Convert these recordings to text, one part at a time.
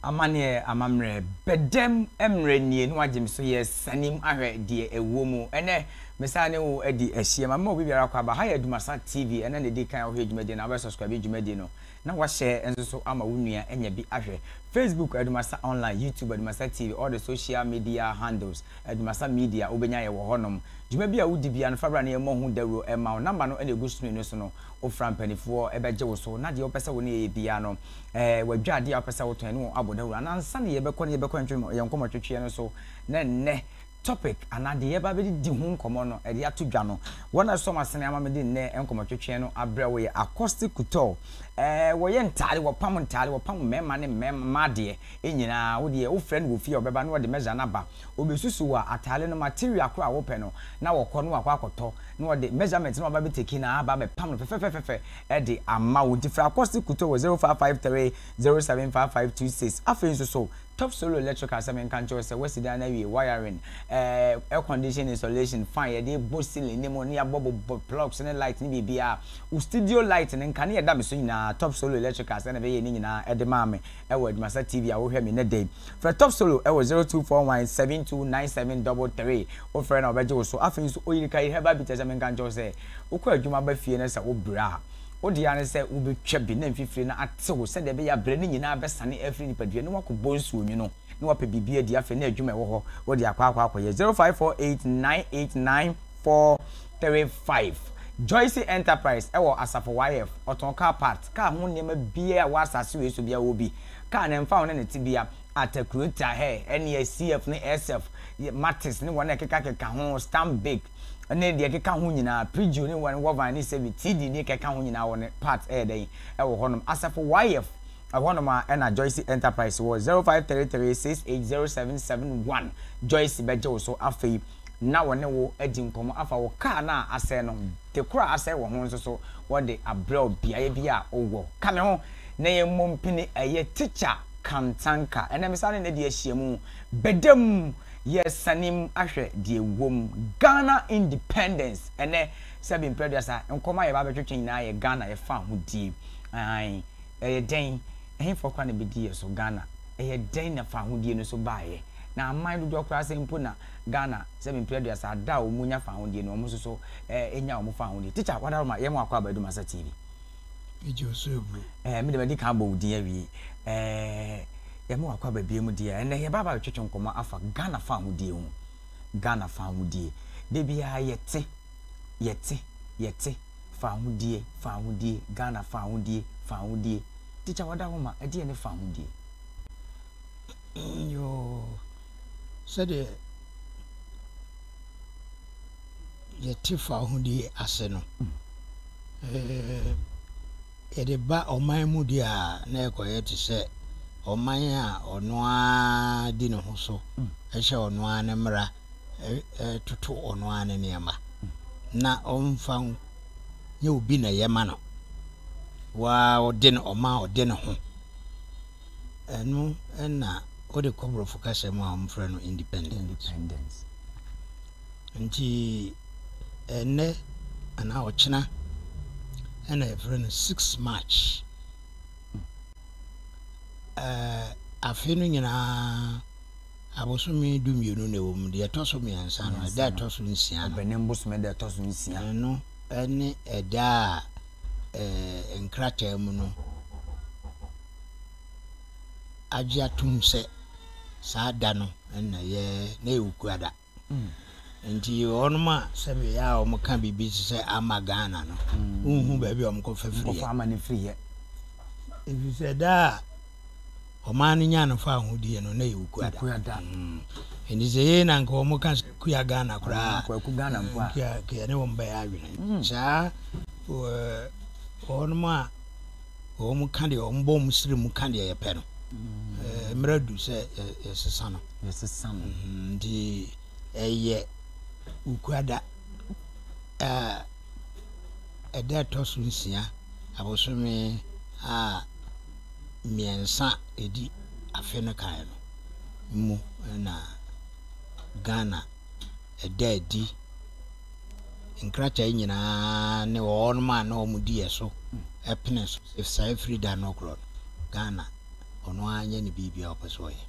Amaneɛ amammerɛ bɛdam mmerɛ nie na wagye me so yɛ sanim ahwɛ deɛ ɛwɔ mu ɛnɛ mesan ne wo adi ahyia ma mma obi biara kɔ aba ha yɛ Dumasa TV ɛna na ɛdi kan wohwɛ dwumadi na wobɛ subscribe dwumadi no na wahyɛ nso so ama wo nua anya bi ahwɛ Facebook Adumasa Online, YouTube Adumasa TV, all the social media handles Adumasa Media wobɛnya yɛ wɔ hɔnom. Dwuma bi a wodi biara no fa bra na yɛmmɔ ho dawuro mma wo. Number no na ɛgu screen no so no, wofra mpaninfoɔ bɛgye wo so na deɛ wopɛ sɛ wo ne yɛyɛ biara no eh, w'adwa adeɛ a wopɛ sɛ wotɔn yɛne wɔn abɔ dawuro anaa nsa na yɛbɛkɔ na yɛbɛkɔ ntwe yɛn nkɔmmɔtwetweɛ no so na nnɛ Topic anaa deɛ yɛba abɛdidi ho nkɔmmɔ no ɛde ato dwa no, wɔn a ɛsɔ wɔn asene ama me de nnɛ nkɔmmɔtwetweɛ no abrɛ wo yɛ Accosti Couture. Ɛɛ, wɔyɛ ntaade, wɔpam ntaade, wɔpam mmarima ne mmarima, mmaa deɛ, nyinaa. Wo deɛ, wofrɛ no wɔ fie a, ɔbɛba na ɔde measure no aba. Ɔbɛsusu wo a, ataade no, material korɔ a wopɛ no, na wɔkɔ na wɔakɔ akɔtɔ, na ɔde measurement no aba abɛtake no, aba abɛpam no fɛfɛfɛfɛfɛ de ama wo. Nti frɛ Accosti Couture wɔ 0553 075526. Afei nso so, Top Solo Electrical sɛ menka nkyerɛ wo sɛ woasi dan no awie, wiring, eh, air condition installation, fan, yɛde rebɔ ceiling no mu na yɛabɔ bobɔ plugs ne light ne biribiara. Wo studio light no, nkanea a ɛda me so nyinaa, Top Solo Electrical sɛ na ɛbɛyɛɛ ne nyinaa de maa me wɔ Adwumasa TV a wohwɛ me nnɛ da yi. Frɛ Top Solo wɔ 0241729733, wofrɛ na wɔbɛgye wo so. Afei nso, Oyirikayi Herbal Bitters sɛ menka nkyerɛ wo sɛ wokɔ adwuma ba fie na sɛ wobra a, Wo dea ara ne sɛ wobɛtwa bi na mfifire no atew sɛdeɛ ɛbɛyɛ a brɛ no nyinaa bɛsane afiri nipadua na woakɔbɔ nsuo nwunu na woapɛ biribi adi afei na adwuma a ɛwɔ hɔ wode akɔ akɔ akɔyɛ 0548989435 Joyce Enterprise wɔ Asafo YF ɔtɔn car parts, car ho nneɛma biara a ɛwɔ asase wei so biara ɔwɔ bi, car no ɛmfa ho ne ne tebea, Atakurota, hɛ, ɛnneɛ, CF ne SF, Matis ne wɔn a ɛkekakeka ho, Stanbic, ne deɛ ɛkeka ho nyinaa, Prigio ne Wine Wovine ne Sevi, CD ne kɛka ho nyinaa wɔ ne part ɛyɛ dɛn ɛwɔ hɔ nom, Asafo YF ɛhɔ nom a ɛna Joyce Enterprise wɔ, 0533680771 Joyce bɛgye wo so afei na wɔne wo adi nkɔmɔ afa wo car no a asɛe no ho, de koro a asɛe wɔ ho nso so wɔde abrɛ wo beaeɛ bi a wo wɔ, ka me ho na yɛn mmɔ mpini ɛyɛ Teacher Kantanka ɛnɛ me san ne Nadi ahyiamu, bɛda mu. Yɛsanem ahwɛ deɛ ɛwom. Ghana independence ɛnɛ sɛbe mprɛ aduasa. Nkɔmɔ a yɛba abɛtwetwe nyinaa yɛ Ghana ɛfa ahodie. Aane. Ɛyɛ dɛn? Ɛhefoɔ koraa na ɛbɛdi yɛ so? Ghana. Ɛyɛ dɛn na fa ahodie no so baeɛ? Na aman dodoɔ koraa sɛn mpo na Ghana sɛbe mprɛ aduasa ada a wɔn nya fa ahodie no wɔn nso so ɛnya wɔn fa ahodie? Teacher, wada hɔ ma yɛn mo akɔ Aba Adum Asa TV. Megye wo so agu. Ɛɛ me de madi kan abɔ wo din awie. Ɛɛ yɛma wakɔ ababie mu deɛ ɛnɛ yɛba aba bɛtwetwe nkɔmɔ afa Ghana fa ahodie ho. Ghana fa ahodie. Da biara yɛte yɛte yɛte fa ahodie fa ahodie Ghana fa ahodie fa ahodie. Tikya wada hɔ ma ɛdeɛ ne fa ahodie. Yoo sɛdeɛ. yɛte fawohodie ase no, yɛde ba ɔman mu deɛ a na ɛkɔyɛ te sɛ ɔman a ɔno ara di ne ho so hyɛ ɔno ara ne mmara toto ɔno ara ne nneɛma na ɔmfa nyɛ obi na ɛyɛ ma no waa ɔde no ɔma ɔde ne ho Ɛno na wode kɔ borɔfo kasa mu a wɔfrɛ no independence. Nti ɛnɛ anaa ɔkyena ɛna yɛfrɛ no six march. Ɛɛ afe no nyinaa abosome du mmienu na ɛwɔ mu deɛ ɛtɔ so mmiɛnsa no ɛda ɛtɔ so nsia no. Ɛbɛnɛ mbosome ɛda ɛtɔ so nsia. Ɛno ɛne ɛda a. eh, nkrataa mu no agye atom sɛ saa da no na yɛ na ɛyɛ okuada mm. nti wɔnom a sɛ bɛyɛ a wɔka biribi te sɛ ama ghana no mm. wonhu baabi a wɔkɔfa firiɛ ɛfiri sɛ da a ɔman no nyaa no fawohodie no na ɛyɛ okuada ɛnti sɛ yei na nka wɔn ka kua Ghana koraa kua ne wɔn bɛyɛ adwene saa wɔnom a wɔn ka deɛ wɔn bɔ wɔn siri mu ka deɛ yɛpɛ no mmerɛ du sɛ yɛsesa no nti ɛyɛ okuada ɛda ɛtɔ so nsia abosome a mmiɛnsa a ɛdi afe no kan no mu na Ghana ɛda adi nkrataa nyinaa ne wɔn a na wɔn di yɛ so ɛpene so sɛ saa firi da no korɔ no Ghana ɔno ara nyɛ ne biribi a ɔpɛ so ɔyɛ.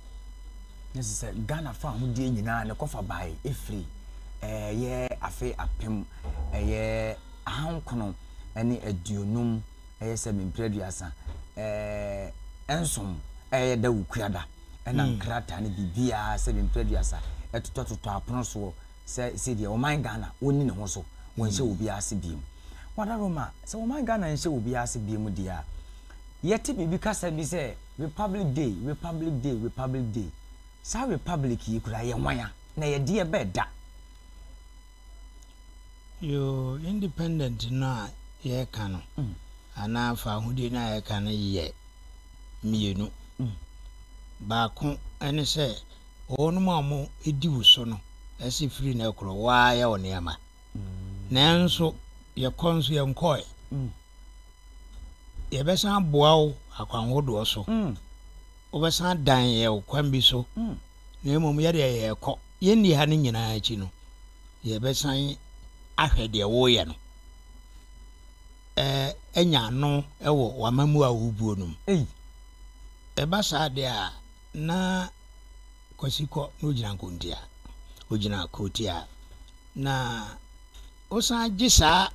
Ne sɛ sɛ Ghana fa ahodeɛ nyinaa ne kɔfa bae ɛfiri ɛyɛ afe apem ɛyɛ ahankono ne aduonum ɛyɛ sɛ me mpere aduasa ɛɛ nson ɛyɛ da wukua da ɛna hmm. nkrataa no biribiara sɛ me mpere aduasa ɛtotɔtotɔ apono soɔ sɛ sɛdeɛ ɔman ghana wɔnni ne ho so wɔnhyɛ hmm. obiara ase biem wada roma sɛ ɔman ghana nhyɛ obiara ase biem deɛ a yɛte biribi kasa bi sɛ republic day republic day republic day saa republic yi kura yɛ nwan a na yɛdeɛ bɛɛ da Yoo, independent no a yɛreka no anaa fahodie no a yɛreka no yɛ mmienu. Baako ne sɛ wɔnom a wɔdi wo so no si firi no korɔ wo ara yɛ wo nneɛma. Nanso yɛkɔ nso yɛnkɔɛ. Yɛbɛsan aboa wo akwan hodoɔ so. Wobɛsan dan yɛ wo kwan bi so. na mmom yɛdeɛ yɛrekɔ, yɛnni ha no nyinaa akyi no, yɛbɛsan ahwɛ deɛ woreyɛ no anya ano wɔ w'amammuo a wobuo no mu. Ei, ɛba saa deɛ a, na Kwasi kɔ na ogyina nkontia, ogyina kotia, na wosan gye saa,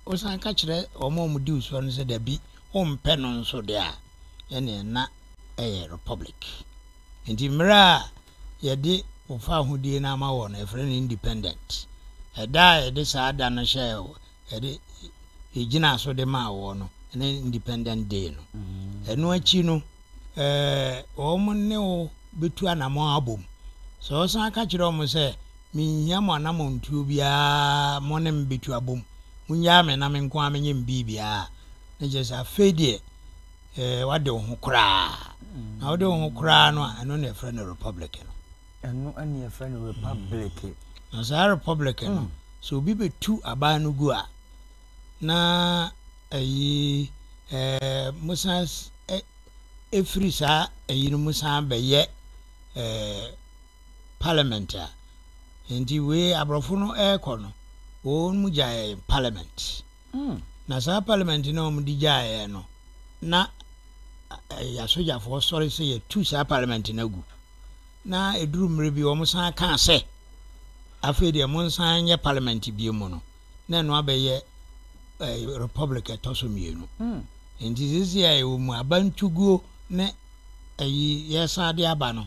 wosan ka kyerɛ wɔn a wɔdi wo soɔ no sɛ dabi, wompɛ no nso deɛ a, ɛneɛ na ɛyɛ republic. Enti mmere a yɛde wo fawohodie no ama wɔ no, yɛfrɛ no independent. Ɛda a yɛde saa da no hyɛɛ wo, yɛde yɛgyinaa so de maa woɔ no, ɛne independent day no. Ɛno akyi no, eh, wɔn ne wo bɛtu anamɔn abom. Sɛ wɔsan ka kyerɛ wɔn sɛ, menhia mo anamɔntuo biara mo ne me bɛtu abom, monnyaa me na me nko ara menyɛ me biribiara a, na kyerɛ sɛ afei deɛ, eh, wade wo ho koraa. Mm. Na wode wo ho koraa no a, ɛno na ɛfrɛ no republic no. Ɛno ɛne ɛfrɛ no republic. Mm. Na saa republic no, mm. sɛ obi bɛtu aban no gu a, na ayi eh, mosan eh, ɛfiri saa ayi no mu san bɛyɛ eh, parliament a. Nti wei aborɔfo no ɛrekɔ no, wɔn mu gyae parliament. Na saa parliament no a wɔde gyaeɛ no, na yɛasogyafoɔ sɔre sɛ yɛtu saa parliament no agu. Na ɛduru mmerɛ bi wɔn san kaa sɛ, afei deɛ monsan nyɛ parliament bio mu no, na ɛno abɛyɛ republic ɛtɔ so mmienu. Nti sisi a yɛwɔ mu abantuguo ne ɛyi yɛsan de aba no,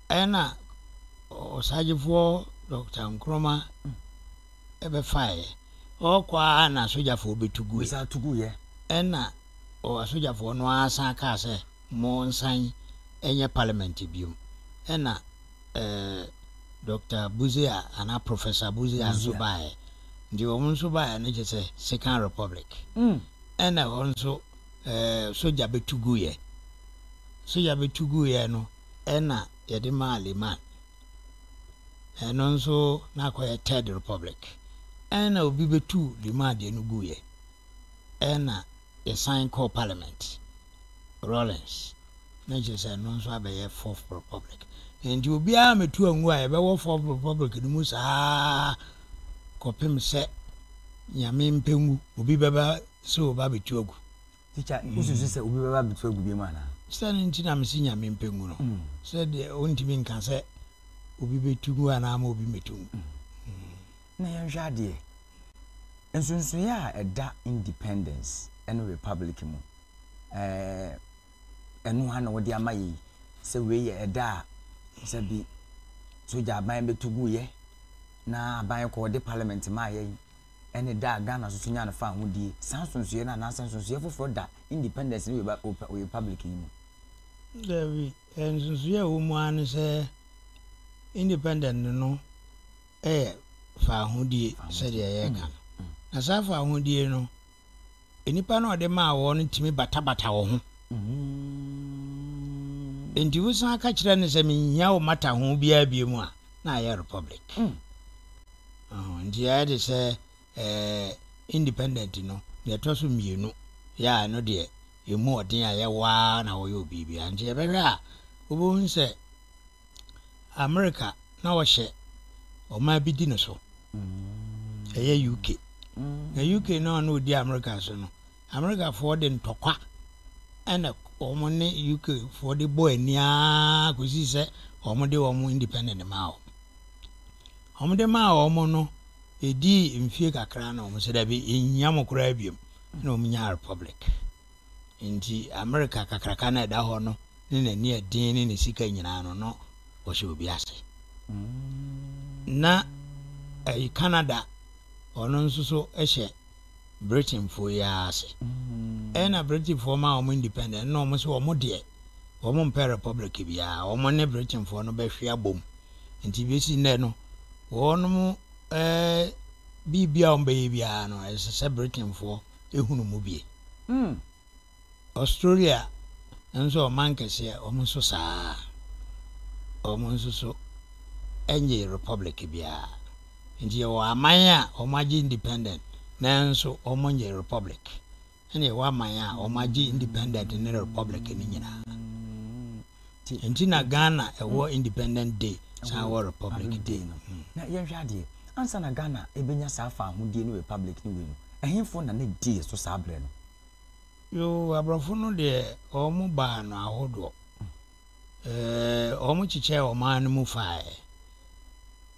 Ɛna ɔsagyefoɔ Dɔkta Nkrumah bɛfaeɛ. Ɔɔkɔ ara na asogyafoɔ bɛtu gueɛ. Bɛsan tu guiɛ. Ɛna asogyafoɔ no ara san kaa sɛ, Monsan nyɛ Parliament biom. Ɛna ɛɛ Dɔkta Busia anaa Professor Busia nso baeɛ. Nti wɔn nso baeɛ no kyerɛ sɛ Second Republic. Ɛna hɔ nso ɛɛ sogya bɛtu guiɛ. Sogya bɛtu guiɛ no. na yɛde maa Liman. Ɛno nso na akɔyɛ Third Republic. Ɛna obi bɛtuu Liman deɛ no guiɛ. Ɛna yɛsan kɔɔ Parliament, Rawlings, na kyerɛ sɛ ɛno nso abɛyɛ Fourth Republic. Nti obiara mɛtu angu a yɛbɛwɔ Fourth Republic no mu saa kɔpem sɛ Nyame mpɛngu obi bɛba sɛ ɔba bɛtu agu. Tikya, wosusu sɛ obi bɛba abɛtu agu bio mu anaa? Sɛn nti na mese Nyame mpɛ ngu no? Sɛdeɛ ɔntumi nka sɛ obi bɛtu ngu anaa ama obi mmɛtu ngu. Na yɛnhwɛ adeɛ. Nsonsoeɛ a ɛda independence ne republic mu, eh, ɛno ha na wode ama yɛ yi, sɛ wei yɛ ɛda a sɛbi sogya aban bɛtu guiɛ na aban kɔɔ de parliament maa yɛn, ne da a Ghana nso nyaa no faa ho die. Saa nsonsoeɛ no anaasɛ nsonsoeɛ foforɔ da independence ne Republic yi mu? Dabi, nsonsoeɛ a ɛwɔ mu ara ne sɛ independence no yɛ faa ho die sɛdeɛ yɛreka no. Na saa faa ho die no, Nnipa no a ɔde maa wɔn no tumi batabata wɔn ho. Enti wosan ka kyerɛ no sɛ, Minhia wo mmataho biara biom a, na ayɛ republic. Nti ayɛ te sɛ independent no, nea ɛtɔ so mmienu yɛ a, ɛno deɛ ɛmu ɔden a yɛwɔ ara na wɔyɛ obiara. Nti yɛbɛhwɛ a, wobɛhu sɛ America na ɔhyɛ ɔman bi di no so. Ɛyɛ UK. Na UK na ɔno odi America so no. Americafoɔ de ntɔkwa ɛna wɔn ne UK foɔ de bɔ ani ara kɔsi sɛ wɔn de wɔn independent maa wɔn. Wɔn de maa wɔn no ɛdii mfie kakra na wɔn sɛ dabi ɛnhia mo koraa biom na wɔn nyaa republic. Enti Amerika kakraka no a ɛda hɔ no ne n'ani a ɛden ne ne sika nyinaa no, na ɔhyɛ obi ase. Na ɛyɛ Canada, ɔno nso so hyɛ Britainfoɔ yi ara ase. Ɛna Britainfoɔ ma wɔn independent na wɔn sɛ wɔn deɛ wɔn mpɛ republic biara, wɔn ne Britainfoɔ no bɛhwe abom. Nti bɛsi nnɛ no, wɔn ɛɛ biribi a wɔbɛyɛ biara no, ɛsɛ sɛ Britainfoɔ ehunu mu bi. Australia nso ɔman kɛseɛ wɔn nso saa wɔn nso so ɛnyɛ republic biara nti yɛwɔ aman a wɔn agye independent nanso wɔn nyɛ republic ɛna yɛwɔ aman a wɔn agye independent ne republic no nyinaa. Ti nti na Ghana ɛwɔ independent day san ɛwɔ republic day no. Hmm. Na yɛnhwɛ adeɛ, ansa na Ghana ɛbɛnya saa faahodie ne republic no wei no, ɛhenfo na ne di yɛ so saa berɛ no? Yoo, aborɔfo no deɛ wɔn baa no ahodoɔ. Wɔn kyekyɛɛ ɔman no mu faeɛ.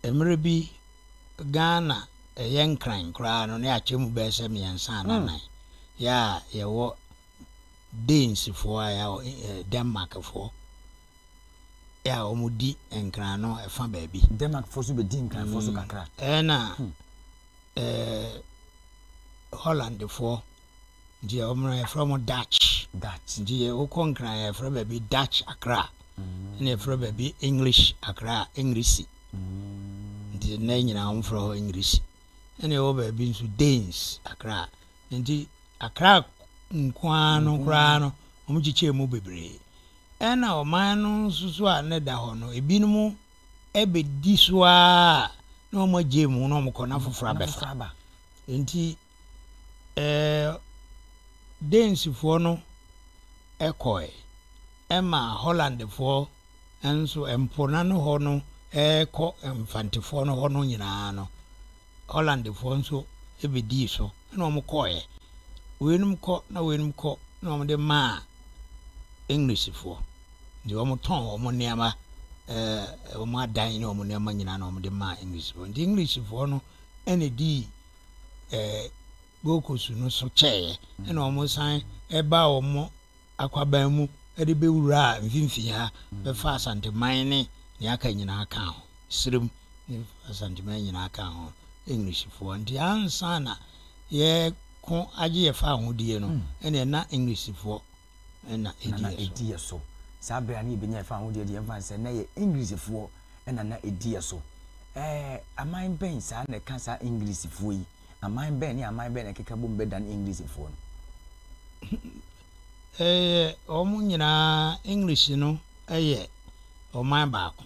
Mmerɛ bi Ghana ɛyɛ nkran koraa no ne akyɛ mu bɛyɛ sɛ mmiɛnsa ananan. Hmm. Yɛ a yɛwɔ Danesfoɔ a ɛyɛ ɛ Denmarkfoɔ ɛ a wɔdi Nkran no ɛfa baabi. Denmarkfoɔ nso bɛdi Nkranfoɔ so kakra. Ɛna ɛ Hollandfoɔ nti yɛ wɔn yɛfrɛ wɔn Dutch. Dutch nti yɛ wokɔ Nkran yɛfrɛ baabi Dutch Accra ɛna yɛfrɛ baabi English Accra Engrisi nti nnɛ nyinaa wɔn frɛ hɔ Engrisi ɛna ɛwɔ baabi nso Danes Accra. Enti akra nko ara no koraa no, wɔkyekyɛɛ mu bebree. Ɛnna ɔman no nso so a na ɛda hɔ no, ebinom bɛdi so ara a na wɔagyae mu na wɔkɔ na foforɔ abɛfa. Enti ɛɛ Danesfoɔ no kɔe. Ɛma Hollandfoɔ nso mpo no ano hɔ no rekɔ Mfantefoɔ no hɔ no nyinaa no, Hollandfoɔ nso bɛdii so, ɛna wɔkɔeɛ. Weinom kɔ na weinom kɔ na wɔde maa Englishfoɔ. Nti wɔtɔn wɔn nneɛma, ɛɛ wɔn adan ne wɔn nneɛma nyinaa na wɔde maa Englishfoɔ. Nti Englishfoɔ no ɛna dii ɛɛ Gold Coast no so kyɛeɛ, ɛna wɔsan ɛbaa wɔn akwaban mu de bɛwuraa mfimfini ha bɛfa Asanteman ne nea aka nyinaa kaa ho, Sirem ne Asanteman nyinaa kaa ho, Englishfoɔ. Nti ansa na yɛko agye yɛfa ahodeɛ no, hmm. ɛneɛ na Englishfoɔ na ɛdi yɛ so. Saa berɛ a ne yɛbɛnya yɛfa ahodeɛ deɛ ɛmfa sɛ na yɛ Englishfoɔ na na ɛdi yɛ so. Ɛɛ, aman bɛn saa na ɛka saa Englishfoɔ yi? Aman bɛn ne aman bɛn na ɛkeka bom bɛdan Englishfoɔ no? Ɛyɛ wɔn nyinaa, English no yɛ ɔman baako,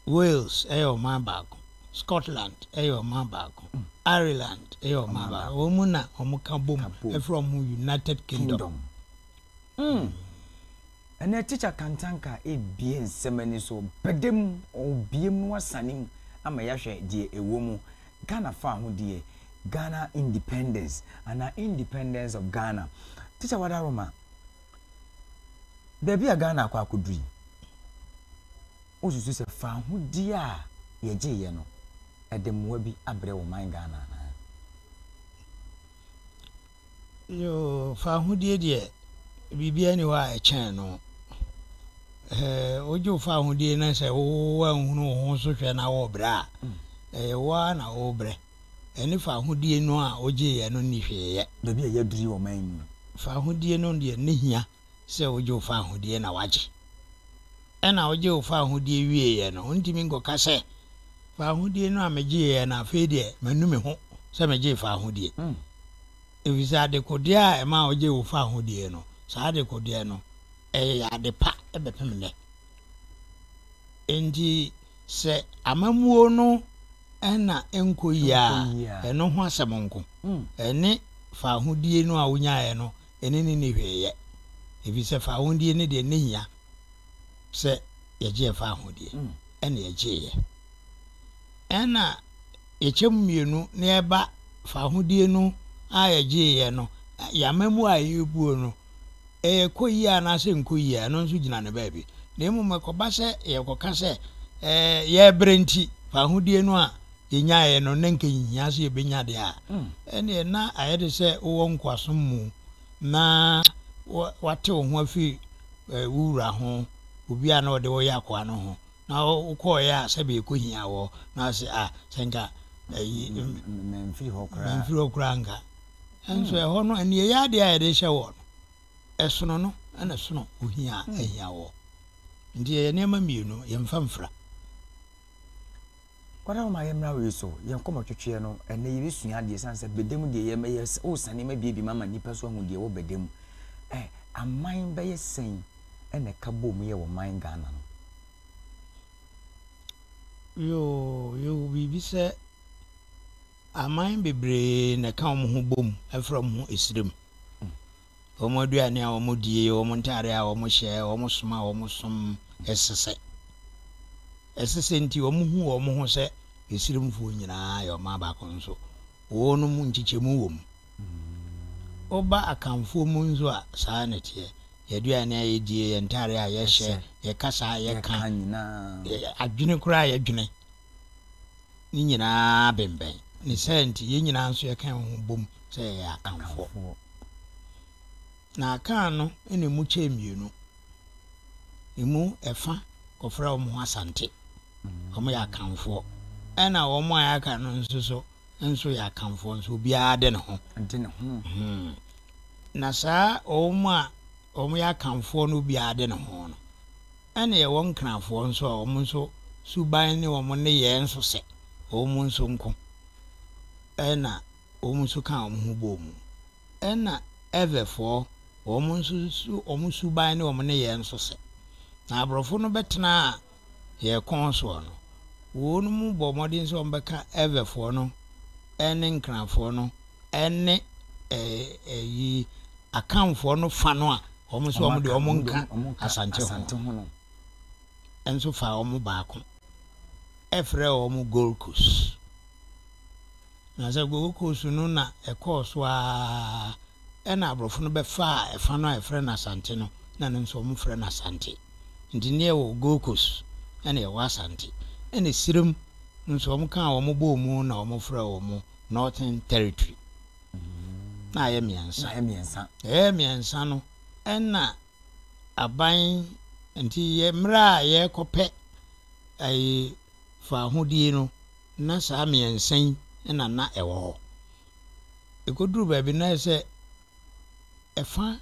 Wales yɛ ɔman baako, Scotland yɛ ɔman baako, Ireland yɛ ɔman baako. Wɔn mu na wɔka bom ɛfiri wɔn ho United Kingdom. Ɛnɛ tikya kantanka ebie nsɛm ani so bɛdam ɔbiem na wasane mu ama yɛahwɛ deɛ ɛwɔ mu. Ghana Fahodie, Ghana Independence anaa Independence of Ghana. Teacher Wadaroma, baabi a Ghana akɔ akɔdu yi, wosusu sɛ fahodie a yɛgyeeɛ no, ɛde mmoa bi abrɛ wɔ man Ghana anaa? Yoo, fawohodie deɛ biribiara nni hɔ a ɛkyɛn no. Wogye wo fawohodie na sɛ woanhunu wo ho so hwɛ na worebrɛ a, ɛyɛ wo ara na worebrɛ. Ɛne fawohodie no a wogyeeɛ no nni hwee yɛ. Baabi a ɛyɛ duru wɔ ɔman yi mu no. Fawohodie no deɛ ne hia. sɛ wogye wo fawohodie na wagye. Ɛna wogye wo fawohodie wieeɛ no, wontumi nkɔka sɛ, fawohodie no a megyeeɛ no afei deɛ manu me ho sɛ megyee fawohodie. Mm. Ɛfiri sɛ adekodeɛ a ɛma wogye wo fawohodie no, saa adekodeɛ no, ɛyɛ ade pa ɛbɛpem nnɛ. Enti sɛ amammuo no ɛna ɛnkɔ yie a, ɛno ho asɛm nko. Mm. Ɛne fawohodie no a wonyaeɛ no ɛne no nni hwee yɛ, ɛfiri sɛ fawohodie no deɛ ne hia sɛ yɛgyeɛ fawohodie, ɛne yɛgyeeɛ. Ɛna yɛkyɛm mmienu na yɛba fawohodie no a yɛgyeeɛ no, yɛn amamuo a yɛbuo no, ɛkɔ yie anaasɛ nkɔ yie a, ɛno nso gyina ne baabi. Na mmom ɛkɔba sɛ yɛkɔka sɛ yɛbrɛ nti fawohodie no a, yɛnyaeɛ no na anka ɛnhia sɛ yɛbɛnya deɛ a, ɛnneɛ na ayɛ te sɛ wowɔ nkoasom mu na woate wo ho afiri wo wura ho, obi a na ɔde wo yɛ akoa no ho, na wokɔɔeɛ a sɛbe ɛkɔhia wɔ, na ase a sɛ nka ayi memfiri hɔ koraa memfiri hɔ koraa nka. Nso hmm. ɛhɔ no ɛnneɛ adeɛ a yɛde hyɛ wɔ no ɛsono no ɛna ɛsono ohia hmm. ahia wɔ. Nti ɛyɛ nneɛma mmienu yɛmfa mfira. Wara wo ma yɛ mmra wei so yɛn kɔmɔ twetweɛ no ɛnɛ yɛ bɛsua adeɛ san sɛ bɛda mu deɛ yɛ mɛyɛ o sane ma bie bi ma ma nipa so ahu deɛ wɔ bɛda mu ɛ aman bɛyɛ sɛn ɛna ɛka bom yɛ wɔ man Ghana no. Yoo yɛwɔ biribi sɛ aman bebree na ɛka wɔn ho bom ɛfrɛ wɔn ho ɛsrem Wɔn aduane a wɔdie, wɔn ntadeɛ a wɔhyɛ, wɔn som a wɔsom, ɛsɛ sɛ ɛsɛ sɛ nti wɔhu wɔn ho sɛ Misrimfoɔ nyinaa yɛ ɔman baako nso wɔnom nkyekyɛmu wɔ mu. Woba Akanfoɔ mu nso a, saa na ɛteɛ. Yɛn aduane a yɛdie, yɛn ntadeɛ a yɛhyɛ, yɛn kasa a yɛka, adwene koraa a yɛdwene no nyinaa bembɛn. Ne saa nti, yɛn nyinaa nso yɛka yɛn ho bom sɛ yɛyɛ Akanfoɔ. Na Akan no na ɛmu kyɛɛ mmienu. Ɛmu ɛfa kɔfrɛ wɔn ho Asante. Wɔn yɛ Akanfoɔ. Ɛna wɔn a yɛaka no nso so nso yɛ Akanfoɔ nso obiara de ne ho. De ne ho. Hmm. Na saa wɔn a wɔn yɛ Akanfoɔ no obiara de ne ho no. ɛna yɛwɔ Nkranfoɔ nso a wɔn nso suban ne wɔn nneyɛɛ nso sɛ wɔn nso nko na wɔn nso ka wɔn ho bɔɔ mu. Ɛna Evefoɔ, wɔn nso su wɔn suban ne wɔn nneyɛɛ nso sɛ. Na aborɔfo no bɛtenaa yɛn kɔn soɔ no, wɔnom bɔɔ mmɔden sɛ wɔbɛka Evefoɔ no ne Nkranfoɔ no ne ɛyi Akanfoɔ no fa no a Wɔn nso wɔn deɛ wɔn nka Asante ho nso fa wɔn baako ɛfrɛ wɔn Gold Coast na sɛ Gold Coast no na ɛkɔɔ so aa ɛna aborɔfo no bɛfaa ɛfa no a ɛfrɛ no Asante no na no nso wɔn frɛ no Asante nti ne ɛwɔ Gold Coast ɛna ɛwɔ Asante ɛna Sirem nso wɔn kaa wɔn bɔɔ mu na wɔn frɛ wɔn Northern Territory. na ayɛ mmiɛnsa. Na mmiɛnsa. Ɛyɛ mmiɛnsa no ɛna aban nti yɛ mmerɛ a yɛrekɔpɛ ɛyi faahodie no na saa mmiɛnsa yi ɛna na ɛwɔ hɔ. Ɛkɔduru baabi na sɛ ɛfa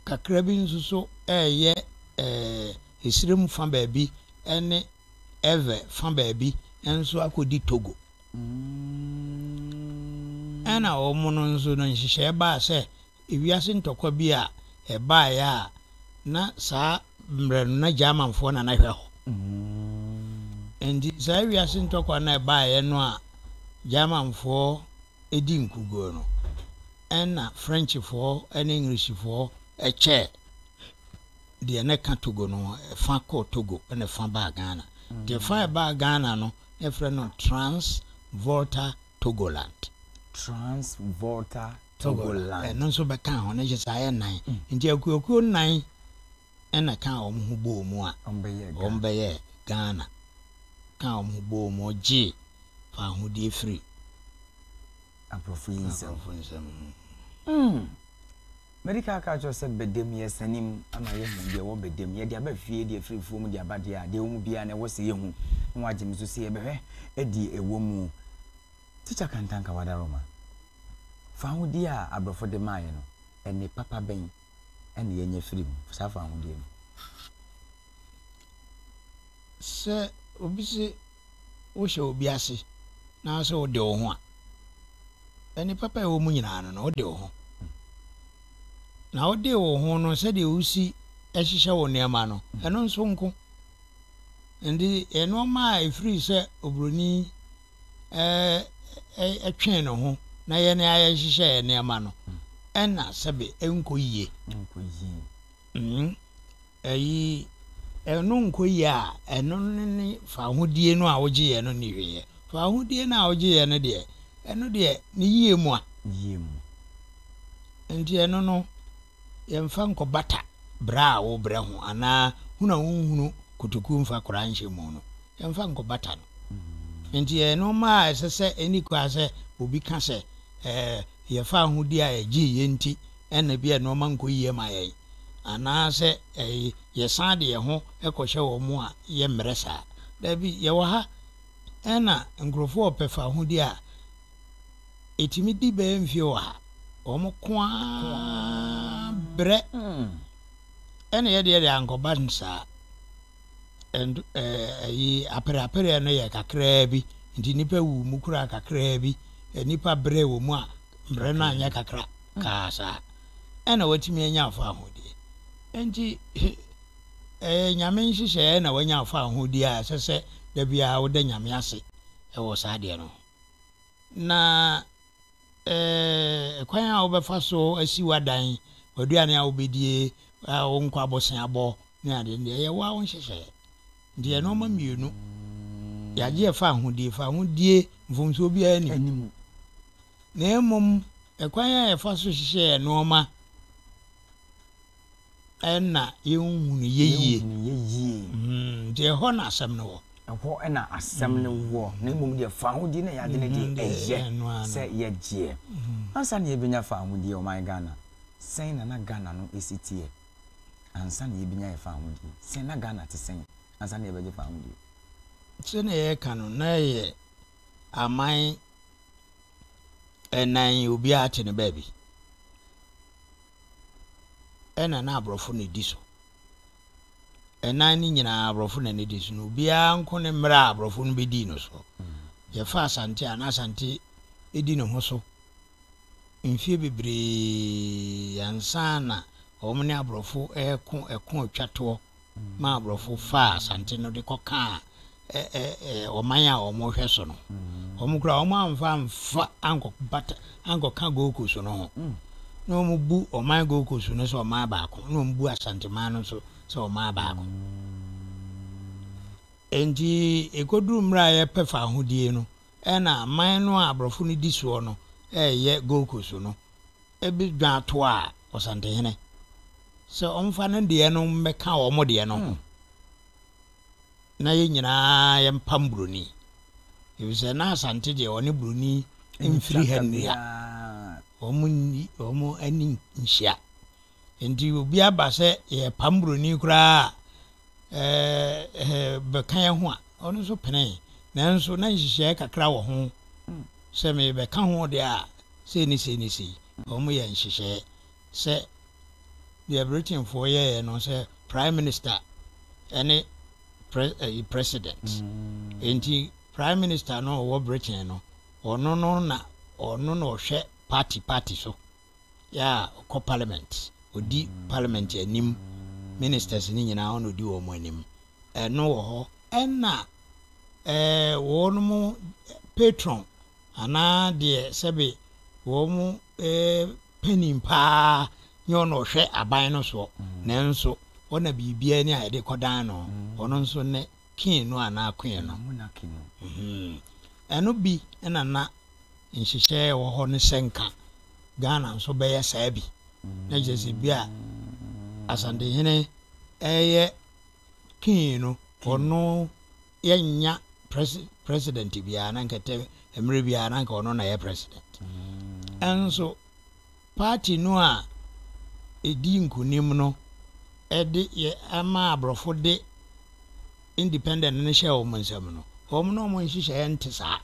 kakra bi nso so ɛyɛ ɛɛ ɛsire mu fa baabi ɛne ɛvɛ fa baabi nso akɔdi Togo. Ɛnna wɔn nso no nhyehyɛe baa sɛ wiase ntɔkwa bi a ɛbaeɛ a na saa mmerɛ no na Germanfoɔ na na hwɛ hɔ. Enti saa wiase ntɔkwa no a ɛbaeɛ no a Germanfoɔ di nkuguo no, ɛnna Frenchfoɔ ne Englishfoɔ kyɛɛ deɛ na ɛka Togo no ho. Ɛfa kɔɔ Togo ɛnna ɛfa baa Ghana. Nti ɛfa a ɛbaa Ghana no, na yɛfrɛ no Trans-Volta Togoland. Trans-Volta Togoland. Ɛno nso bɛkaa ho, na kyerɛ sɛ ayɛ nnan. Nti akuakuo nnan na ɛkaa wɔn ho bɔɔ mu a wɔbɛyɛɛ Ghana. Ɛkaa wɔn ho bɔɔ mu gyee fawohodie firii Aborɔfo yi nsam. Madi kan aka akyerɛ wo sɛ badam yɛresane mu ama yɛahu deɛ ɛwɔ badam. Yɛde aba fie de afiri afuo mu de aba deɛ a, deɛ ɛwɔ mu biara na ɛwɔ sɛ yɛhu. Na woagye me so sɛ yɛbɛhwɛ deɛ ɛwɔ mu. Tikya Kantanka Wadaroma, fahodie a aborɔfo de maaeɛ no, ɛnne papa bɛn na yɛanya firi mu, saa fahodie no? Sɛ obi se wohyɛ obi ase na sɛ ode wo ho a, nnipa pa a ɛwɔ mu nyinaa no na ode wo ho. Na wode wo ho no sɛdeɛ wosi hyehyɛ wo nneɛma no, ɛno nso nko. Nti nneɛma a ɛfiri sɛ oburoni ɛtwee ne ho na yɛn a yɛhyehyɛ yɛn nneɛma no, ɛna sɛbe ɛnkɔ yie. Mm. Eyi, ɛno nkoye a, ɛno no ne fawohodie no a wogyeeɛ no nniwieɛ. Fawohodie no a wogyeeɛ no deɛ, ɛno deɛ ne yie mu a. Yie mu. Enti ɛno no, yɛmfa nkɔbata brɛ a wobrɛ ho anaa hunu a wonhunu kotokuo mfa kora nhyɛ mu no, yɛmfa nkɔbata no. Enti ɛyɛ nnoɔma a ɛsɛ sɛ ɛnni kwa sɛ obi ka sɛ, ɛɛ, yɛn fawohodie a ɛgyee yɛn nti na ebia nneɛma nkɔ yie ma yɛn, anaasɛ yɛsan de yɛn ho kɔhyɛ wɔn mu a, yɛmmrɛ saa. Dabi, yɛwɔ ha na nkurɔfoɔ a wɔpɛ fawohodie a ɛtumi di bɛyɛ mfeɛ wɔ ha, wɔn ko ara brɛ, ɛna yɛde yɛde ankɔba saa. And ɛyi apereapereɛ no yɛ kakraa bi, nti nnipa wu mu koraa kakraa bi, nnipa brɛ wɔ mu a, mmerɛ no anyɛ kakra. kaa saa ɛna watumi anya fahodie. Enti ɛyɛ Nyame nhyehyɛeɛ na wanya fahodie a ɛsɛ sɛ da biara woda Nyame ase wɔ saa adeɛ no ho. Na ɛɛ kwan a wobɛfa so asi w'adan, w'aduane a wobɛdie, wo nkwa boseabɔ ne adeɛ no deɛ ɛyɛ wo a wo nhyehyɛeɛ. Deɛ nnoɔma mmienu yɛagye ɛfa ahodie, fa ahodie mfomsoɔ biara nni mu, na mmom ɛkwan a yɛfa so hyehyɛ yɛn nnoɔma ɛna yɛnhunu yɛ yie. Mm, nti ɛhɔ na asɛm no wɔ. Ɛhɔ ɛna asɛm no mm. wɔ, na mmom deɛ fa ahodie na yɛagye no deɛ mm-hmm. ɛyɛ sɛ yɛgyeɛ. Mm-hmm. Ansa na yɛbɛnya fa ahodie ɔman Ghana, sɛn na na Ghana no ɛsi teɛ? ansa na yɛbɛnya yɛn fawohodie sɛn? Na Ghana te sɛn ansa na yɛbɛgye fawohodie? Sɛnea yɛreka no, na yɛ aman ɛnan yi obiara te ne baabi ɛna na aborɔfo na ɛdi so ɛnan no nyinaa aborɔfo na ɛdi so na obiara nko ne mmerɛ a aborɔfo no bɛdii no so mm. yɛfa asante a na asante ɛdi ne ho so mfeɛ bebree ansa na wɔn ne aborɔfo reko ɛko twa toɔ ma aborɔfo faa Asante no de kɔkaa ɛ ɛ ɛ ɔman a wɔhwɛ so no. Wɔn koraa wɔn amfa amfa ankɔ bata ankɔka Gold Coast no ho. Na wɔn bu ɔman Gold Coast no sɛ ɔman baako na wɔn bu Asanteman no nso sɛ ɔman baako. Enti ɛkɔduru mmerɛ a yɛpɛ faahodie no Ɛna man no a aborɔfo no di soɔ no reyɛ Gold Coast no bi dwan toaa Ɔsantehene sɛ ɔmfa ne deɛ no mmɛka wɔn deɛ no ho na yɛn nyinaa yɛmpam buroni efisɛ na Asante deɛ ɔne buroni mfiri ha nnua wɔn ani nhyia Enti obi aba sɛ yɛrepam buroni koraa a, ɛɛ bɛka yɛn ho a, ɔno nso penee. Nanso na nhyehyɛe kakra wɔ ho sɛ merebɛka ho deɛ a, sei ne sei ne sei. Wɔyɛ nhyehyɛe sɛ deɛ Britainfoɔ yɛeɛ no sɛ Prime Minister ne President. Enti Prime Minister no ɔwɔ Britain no, ɔno no na ɔno na ɔhwɛ party party so. Yɛ a ɔkɔ parliament ɔdi parliament anim ministers no nyinaa ɔna ɔdi wɔn anim ɛno wɔ hɔ ɛna ɛɛ wɔn mo patron anaa deɛ sɛbe wɔn mo ɛɛ panin paa nyɛ ɔna ɔhwɛ aban no soɔ nanso ɔna biribiara ni a yɛde kɔdan no ɔno nso ne Kin no anaa Queen no. Ɛno bi na na nhyehyɛe a ɛwɔ hɔ no hyɛ nka. Ghana nso bɛyɛ saa bi. Na kyerɛ sɛ bi a Asantehene reyɛ Kin no, ɔno yɛnnya president biara na nka ɛtɛ mmerɛ biara na nka ɔno na ɛyɛ president. Nso. Party no a ɛdi nkunim no de yɛ ama aborɔfo de independent no hyɛɛ wɔn nsam no, wɔn ne wɔn nhyehyɛeɛ nte saa.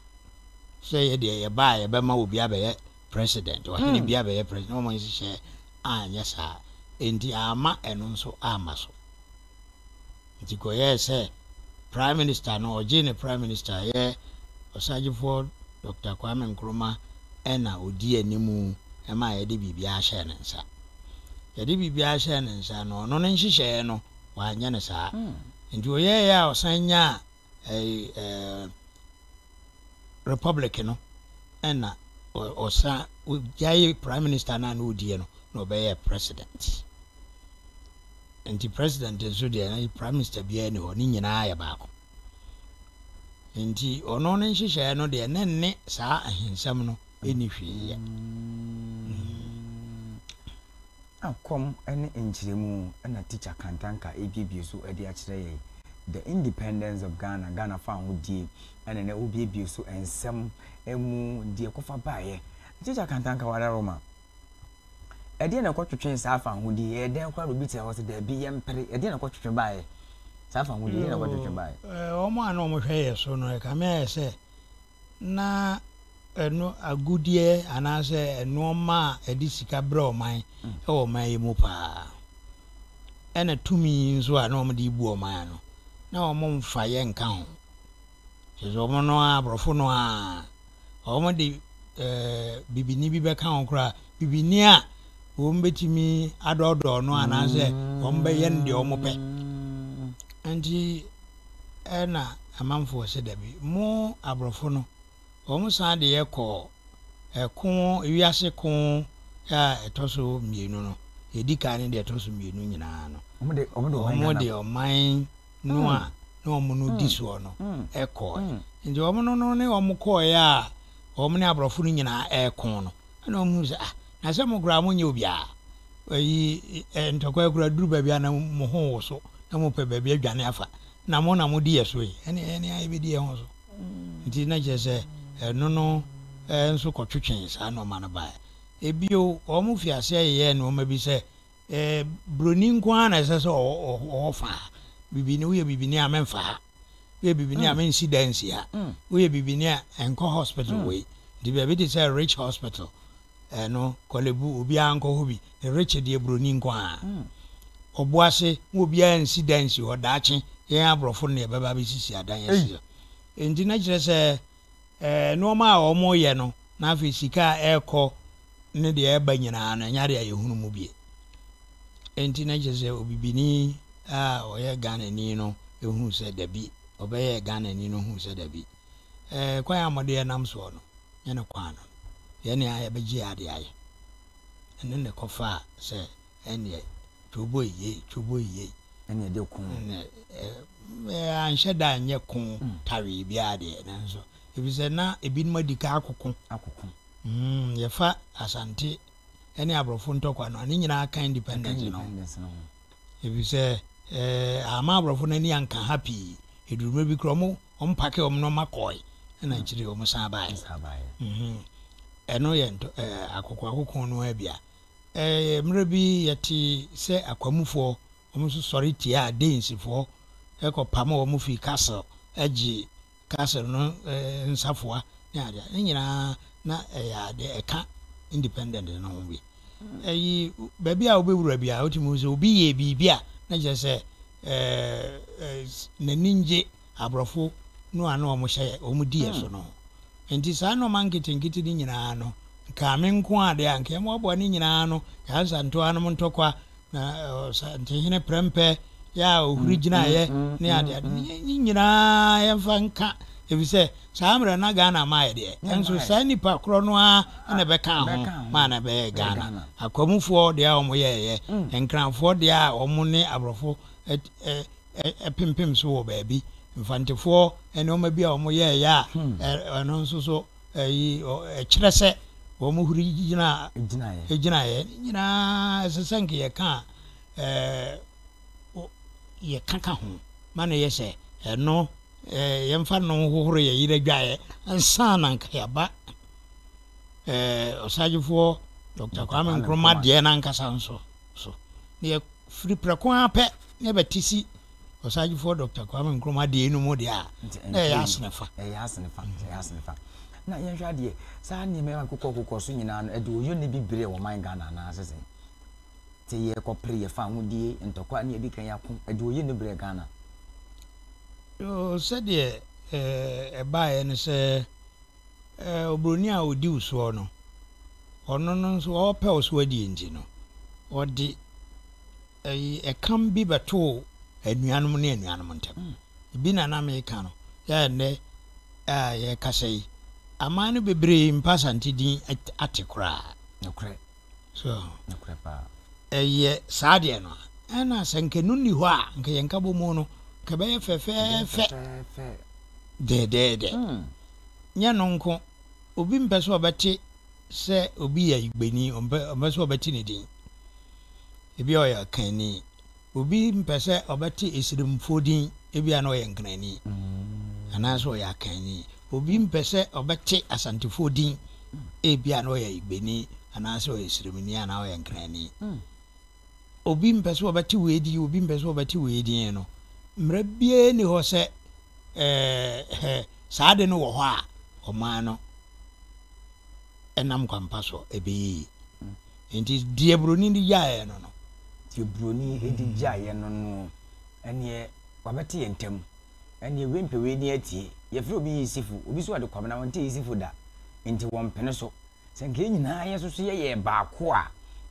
Sɛ yɛ deɛ yɛba a yɛbɛma obi abɛyɛ president, ɔhene bi abɛyɛ president, na wɔn nhyehyɛeɛ anyɛ saa. Enti amma ɛno nso amma so. Enti kɔyɛɛ sɛ Prime Minister no, ɔgyee ne Prime Minister yɛ Ɔsagyefoɔ Dɔkta Kwame Nkrumah na ɔdii anim maa yɛde biribiara hyɛɛ ne nsa. Yɛde biribiara hyɛɛ ne nsa no, ɔno ne nhyehyɛeɛ no, wanyɛ no saa. Enti ɔyɛeɛ a ɔsan nyaa Republic no na ɔsan ogyae Prime Minister no a na ɔdiɛ no na ɔbɛyɛɛ President. Nti President nso deɛ na Prime Minister biara ni hɔ, ne nyinaa yɛ baako. Nti ɔno ne nhyehyɛeɛ no deɛ na nne saa ahensɛm no nni hwee yɛ. Kɔm ne nkyerɛmu na Teacher Kantanka rebuebue so de akyerɛ yɛn. The Independence of Ghana, Ghana Fahodie na na ɔrebuebue so nsɛm mu deɛ ɛkɔfa baeɛ. Teacher Kantanka wada Roma. Ɛdeɛ na ɛkɔtwetwe saa fahodie yi? Ɛyɛ dɛn koraa na obi te hɔ sɛ daabi yɛmpere? Ɛdeɛ na ɛkɔtwetwe baeɛ? Saa fahodie yi na ɛkɔtwetwe baeɛ. Wɔn a na wɔhwɛ yɛn so no, ɛkame ayɛ sɛ na ɛno agudeɛ anaasɛ nnoɔma a ɛde sika brɛ ɔman wɔ ɔman yi mu paa ɛna tumi nso a na wɔde bu ɔman no na wɔn mfa yɛ nka ho kyerɛ sɛ wɔn no a aborɔfo no a wɔn de ɛɛ bibini bi bɛka ho koraa bibini a wɔn bɛtumi adɔɔdɔɔ no anaasɛ wɔn bɛyɛ no deɛ wɔn pɛ nti. na amanfoɔ se dabi. Mo aborɔfo no, wɔn san de yɛ kɔɔ ɛko, wiase ko a ɛtɔ so mmienu no, deɛ ɛdi kan ne deɛ ɛtɔ so mmienu nyinaa no. Wɔn de ɔman no a na wɔn no di soɔ no ɛkɔɔɛ. Nti wɔn no ne wɔn kɔɔɛ a wɔn ne aborɔfo no nyinaa ɛko no. Ɛnna wɔhuu sɛ, Ah, na sɛ mo koraa monyɛ obiara a, ayi, ɛ, ntɔkwaw koraa duru baabi a na mo ho woso na mopɛ baabi adwane afa, na mo na modi yɛn so yi, ɛnneɛ yɛne ara yɛbɛdi yɛn ho so. Enti na kyerɛ sɛ, ɛno no nso kɔtwetwee saa nneɛma no baeɛ. Bio, wɔfii aseɛ yeyɛɛ nneɛma bi sɛ Ɛɛ broni nko ara na ɛsɛ sɛ ɔwɔ fa ha. Bibini woyɛ bibini a memfa ha. Woyɛ bibini a mm. mensi da nsi ha. Mm. Woyɛ bibini a ɛnkɔ hospital mm. wei. Nti baabi te sɛ rich hospital ɛno eh, kɔlebu obiara nkɔ hɔ bi. Ne rich deɛ broni nko ara. Ɔbo ase wo obiara nsi da nsi hɔ daakye yɛn aborɔfo no na yɛbɛba bɛsisi adan asi hɔ. Nti na kyerɛ sɛ Nnoɔma a wɔyɛ no na afei sika a ɛrekɔ ne deɛ ɛreba nyinaa no, ɛnyɛ adeɛ a yɛhunu mu bie. Enti na kyerɛ sɛ obibini a ɔyɛ Ghanani no huu sɛ dabi, ɔbɛyɛɛ Ghanani no huu sɛ dabi, kwan a modeɛ nam soɔ no, nyɛ ne kwan no, yɛn ne a yɛbɛgye adeɛ ayɛ. Ɛno ne kɔfaa sɛ. Ɛneɛ twoboi yei twoboi yei. Ɛne ɛde ko. Ɛne ɛɛ anhyɛ da anyɛ ko tawee biara deɛ nanso efisɛ na ebinom adi ka akoko. Akoko. Mm yɛfa Asante ɛne aborɔfo ntɔkwa no a ne nyinaa ka independence no ho. Efisɛ ɛɛ ama aborɔfo no ani anka ha pii. Eduruma bi kura ɔmo ɔmo pake ɔmo nneɛma kɔe ɛna akyire ɔmo san baeɛ. Ɛno yɛ ntɔ ɛɛ akoko akoko no ara bi a. Ɛɛ, mmerɛ bi yɛtee sɛ Akwamufoɔ wɔn nso sɔre tiaa Danesfoɔ kɔ pamoo wɔn firi Kassel gyee Kassel no nsafoa ne adeɛ. Ne nyinaa na ɛyɛ adeɛ ɛka independent no ho bi. Ɛyi, baabi a wobɛwura biara wotumi hu sɛ obi yɛɛ biribi a na kyerɛ sɛ ɛɛ, ɛɛ, n'ani ngye aborɔfo no a na wɔhyɛ wɔn diɛ so no ho. Enti saa nnoɔma nketenkete no nyinaa no, nka me nko ara deɛ a, nka yɛmmoaboa ne nyinaa ano, yɛn Asantewaa nom ntɔkwa, na Ɔsantehene prɛmpɛ yɛ a ɔhuri gyinaeɛ ne adeade no, yɛn nyinaa yɛmfa nka, ɛfiri sɛ saa mmerɛ na Ghana mmaa yɛ deɛ, nanso saa nnipa korɔ no ara na ɛbɛkaa ho maa no bɛyɛɛ Ghana. Akwamufoɔ deɛ a wɔyɛeɛ, Nkranfoɔ deɛ a wɔne aborɔfo pempem so wɔ baabi, mfantefoɔ nnoɔma bi a wɔyɛeɛ a ɛno nso so ɛkyerɛ sɛ wɔn huri gyinaeɛ, gyinaeɛ ne nyinaa ɛsɛ sɛ nka yɛka a yɛka ka ho ma no yɛ sɛ ɛno yɛmfa no hohoro yɛ yerɛ dwaeɛ ansa na nka yɛaba ɔsagyefoɔ Dr. Kwame Nkrumah deɛ no ankasa nso. so, na yɛfiri prɛko ara pɛ na yɛbɛte si Ɔsaagyefɔɔ Dɔkta Kwame Nkrumah adeɛ no mu deɛ a, na ɛyɛ asene fa. Ɛyɛ asene fa, ɛyɛ asene fa. Na yɛnhwɛ adeɛ, saa nneɛma yɛn kokɔ kokɔ so nyinaa no, ɛde ɔyɔ ne bi berɛ wɔ man Ghana anaa sɛ sɛn? Te yɛkɔ pere yɛfa ahodie, ntɔkwa ne yɛde kan yɛako, ɛde ɔyɔ ne berɛ Ghana. Yoo, sɛdeɛ ɛbaeɛ no sɛ Eh, oburoni a odi wo soɔ no, ɔno no nso ɔrepɛ wo so adie nti no, ɔde ɛyi ɛkam bi bɛtoo anuanom ne anuanom ntam. Ebi na na meka no, yɛ ɛnnɛ a yɛkasa yi, aman no bebree mpa Asante din ate koraa. Nokorɛ. So, ɛyɛ saa deɛ no a, ɛna sɛ nka ɛno nni hɔ a, nka yɛn nkabomu no, nka ɛbɛyɛ fɛfɛɛfɛ dɛɛdɛɛdɛ. Hmm. Nyɛ no nko, obi mpɛ sɛ ɔbɛte sɛ obi yɛ Igbeni, ɔmpɛ ɔmpɛ sɛ ɔbɛte ne din. Ebi a ɔyɛ Akanni. Obi mpɛ sɛ ɔbɛte esirimfoɔ din, ebia na ɔyɛ Nkranni anaasɛ ɔyɛ Akanni. Obi mpɛ sɛ ɔbɛte Asantefoɔ din, ebia na ɔyɛ Igbeni anaasɛ ɔyɛ Esirimni anaa ɔyɛ Nkranni. Obi mpɛ sɛ ɔbɛte wei din, obi mpɛ sɛ ɔbɛte wei din no, mmara biara nni hɔ sɛ eh, eh, saa ade no wɔ hɔ a ɔman no nam kwampa so ɛbɛyɛ yie. Nti deɛ buroni de gyaeɛ no no. Deɛ buroni de gyaeɛ no no ɛneɛ wabɛte yɛn ntam ɛneɛ wei mpɛ wei ne atie. Yɛfrɛ obi yisifo, obi so ɔde kwamena ɔnte yisifo da. Nti wɔmpene so. Sɛ nka yɛn nyinaa yɛ soso yɛ yɛ baako a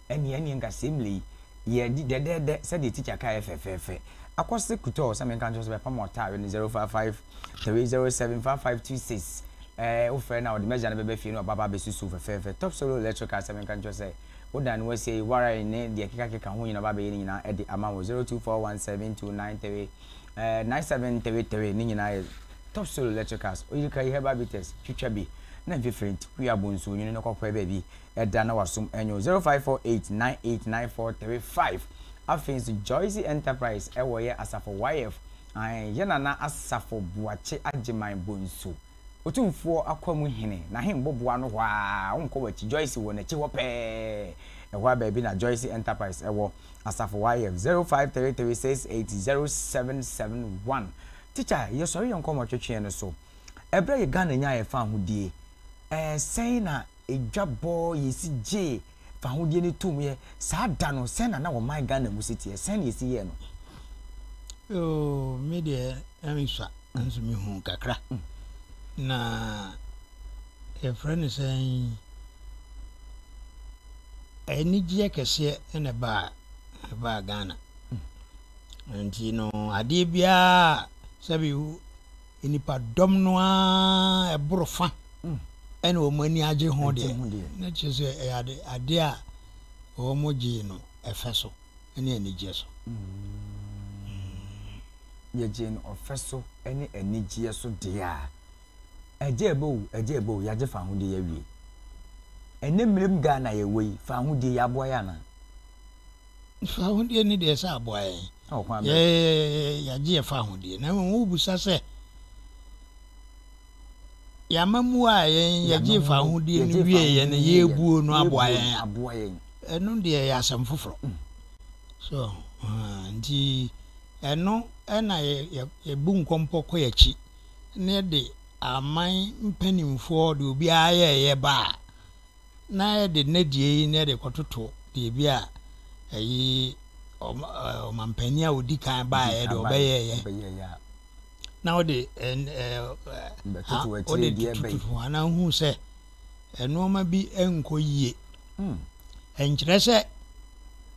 ɛneɛ ɛneɛ nka sɛ mmerɛ yi yɛdi dɛdɛɛdɛ sɛdeɛ tikya kaeɛ fɛfɛɛfɛ. Akɔse kutɔɔ sɛ menka nkyerɛ sɛ bɛpam ɔtaa wɛ ne 055 Hwɛ zero seven five five two six ɛɛ wo frɛ no a ɔde m'agya no bɛba fie na waba abɛsusu fɛfɛɛfɛ Top Solo Electric asɛm menka nkyerɛ sɛ wo dan no wasie yi wire ne deɛ ɛkeka keka ho nyina ɔba abɛyɛ ne nyinaa ɛde ama wo zero two four one seven two nine three ɛɛ nine seven three three ne nyinaa yɛ Top Solo Electricals oyirika yi herbal bitters twitwa bi na mfifire nti kue abo nsuo nwunu no kɔkɔɛ baabi ɛda na wasom ɛnyo zero five four eight nine eight nine four three five afei nso Joyce Enterprise ɛwɔ yɛ asafo YF Ae, yɛ Nana Asafo Boakye Agyeman Bonsu, Otumfoɔ Akwamu Hene, n'ahemboboa no hɔ ara, wonkɔ w'akyi, Joyce wɔ n'akyi hɔ pɛɛ, ɛhɔ ara baabi na Joyce Enterprise wɔ, Asafo YF, 0533680771. Tikya, yɛsɔre yɛ nkɔmmɔtwetweɛ no so. Ɛberɛ a yɛ Ghana nyaa yɛ fahodie, ɛɛ sɛn na. Edwa bɔɔ yesi gyee fahodie no toom yɛ saa da no sɛn na na ɔman Ghana mu si teɛ? Sɛn na esi yɛɛ no? Oh me deɛ ɛnsua nanso me huu kakra na yɛfrɛ no sɛn anigyeɛ kɛseɛ na ɛbaa ɛbaa Ghana nti no adeɛ biara sɛbi Nnipadɔm no ara boro fã na wɔn ani agye ho deɛ, na kyerɛ sɛ ɛyɛ ade ade a wɔgyee no ɛfɛ so ne anigyeɛ so. Yɛgyee no ɔfɛ so ne anigyeɛ so deɛ a, agyeɛbɛ o, agyeɛbɛ o, yɛagye fahodie yɛawie. Ɛnnɛ mmerɛ mu Ghana a yɛwɔ yi, fahodie, yɛaboa yɛ anaa? Fa ahodeɛ ne deɛ sɛ aboa yɛn. Yɛagye yɛfa ahodeɛ. Na mmom wobisa sɛ yɛama mu a yɛn yɛgye fa ahodeɛ no wie yɛn no yɛbuo no aboa yɛn a ɛno deɛ yɛ asɛm foforɔ. Mm. So uh, nti ɛno ɛna yɛbu nkɔmpɔ kɔ yɛakyi na yɛde aman mpanimfoɔ de obiara yɛɛyɛ ba a na ɛde nnɛdeɛ yi na ɛde kɔtoto biribi a ɛyi ɔmampanin a ɔdi kan baeɛ deɛ ɔbɛyɛeɛ na ɔde ɔde tututu anaa hu sɛ nneɛma bi nkɔ yie hmm. ɛnkyerɛ sɛ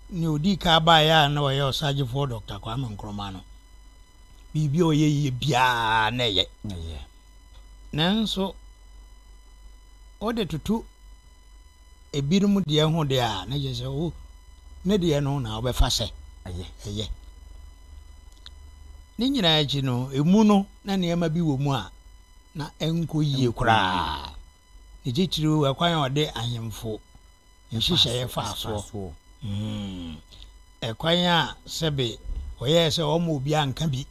ne ɔdi kan baeɛ a na ɔyɛ ɔsagyefoɔ dɔkta kwame nkrɔma no biribi a ɔyɛ yie biara na ɛyɛ Nanso wode toto ebinom deɛ ho deɛ a, na kyerɛ sɛ wo ne deɛ no na wobɛfa sɛ ɛyɛ. Ne nyinaa akyi no, emu no na nneɛma bi wɔ mu a na ɛnkɔ yie koraa. Ne titiriw ɛkwan a ɔde ahemfo nhyehyɛeɛ faa soɔ. Hmm. Ɛkwan a sɛbe wɔyɛɛ sɛ wɔma obiara nka bi.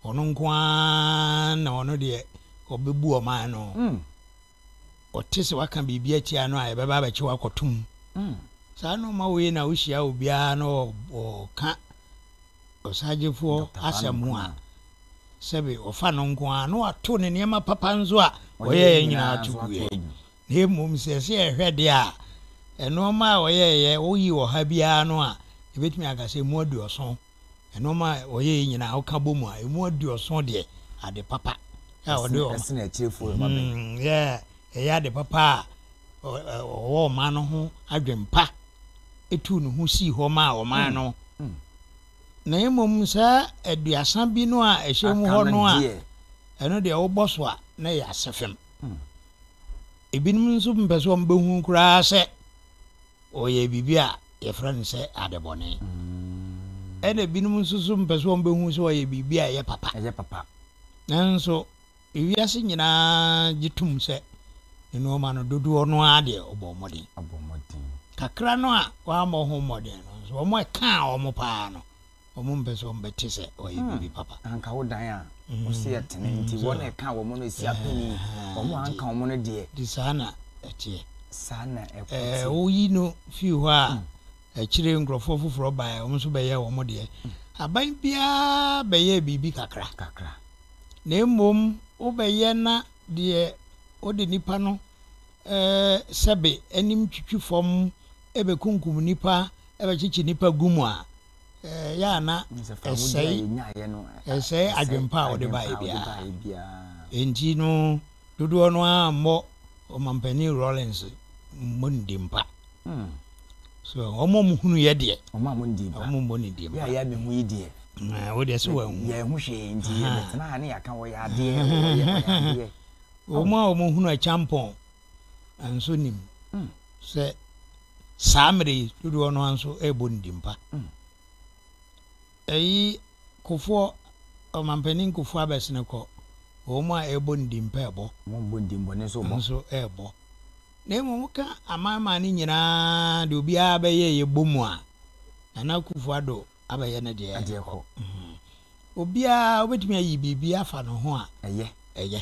Ɔno nko ara na ɔno deɛ ɔbɛbu ɔman no. Ɔte sɛ waka biribi atia no a yɛbɛba abɛkye wakɔto mu. Saa nnoɔma wei na wohyia obiara na ɔka ɔsagyefoɔ asɛm ho a sɛbe ɔfa no nko ara na wato ne nneɛma papa nso a ɔyɛeɛ nyinaa to guiɛ. Na mmom sɛ ɛsɛ yɛhwɛ deɛ a nnoɔma a ɔyɛeɛ woyi ɔha biara no a yɛbɛtumi aka sɛ mu aduɔson Nnoɔma a ɔyɛeɛ nyinaa woka bɔ mu a, ɛmu aduɔson deɛ ade papa a ɔde ɔma. Ɛsene akyirifoɔ ma me. Ɛyɛ ade papa a ɔwɔ ɔman no ho adwen pa tuu ne ho sii hɔ maa ɔman no. Na mmom saa aduasa bi no a ɛhyɛ mu hɔ no a, ɛno deɛ wobɔ so a na ɛyɛ asefem. Ebinom nso mpɛ sɛ wɔbɛhu koraa sɛ Wɔyɛ biribi a wɔfrɛ no sɛ adebɔne. Ɛnna ebinom nso so mpɛ sɛ wɔbɛhu sɛ wɔyɛ biribi a ɛyɛ papa. Ɛyɛ papa. Nanso ewiase nyinaa gye tom sɛ nneɛma no dodoɔ no ara deɛ wɔbɔɔ mmɔden. Wɔbɔɔ mmɔden. Kakra no a wɔammɔ ho mmɔden no nso, wɔn a ɛkaa wɔn paa no, Wɔmpɛ sɛ wɔbɛte sɛ wɔayɛ biribi papa. Na anka wo dan a wose yɛ tene nti, wɔn a ɛkaa wɔn no si apinie, wɔn a anka wɔn no deɛ. Nti saa na ɛteɛ. Saa na ɛko teɛ. Ɛɛ, woyi no fii hɔ a, akyire nkurɔfoɔ foforɔ baeɛ, wɔn nso bɛyɛɛ wɔn deɛ. Aban biara bɛyɛɛ biribi kakra. Kakra. Na mmom wobɛyɛ na deɛ ɔde nipa no sɛbe anim twitwi fam bɛkunkum nnipa, bɛkyekye nnipa gu mu a, ɛyɛ a na ɛsɛe ɛsɛe adwempa a wɔde baeɛ biara. Enti no, dodoɔ no ara mmɔ Ɔmampanin Rawlings mmɔ no din pa. So wɔn a wɔhunuiɛ deɛ, wɔn a wɔndii mpa, wɔn mmɔ no din pa. Yɛ a yɛ abɛhu yi deɛ, wo deɛ sɛ wɔahu. Yɛahu hwee nti yɛbɛtena ha ne yɛaka wɔyɛ adeɛ, wɔyɛ adeɛ. Wɔn a wɔhunu akyampɔn. nso nim sɛ saa mmerɛ yi dodoɔ no ara nso ɛrebɔ ne dimpa. Ɛyi kofoɔ ɔmampanin kofoɔ abɛsene kɔ wɔn a ɛrebɔ ne dimpa ɛbɔ nso ɛrebɔ na mmom woka amanman no nyinaa de obiara bɛyɛ yɛbɔ mu a nana akufo ado abɛyɛ ne deɛ. Ɛdeɛ kɔ. Obiara wobɛtumi ayi biribi afa ne ho a. Ɛyɛ. Ɛyɛ.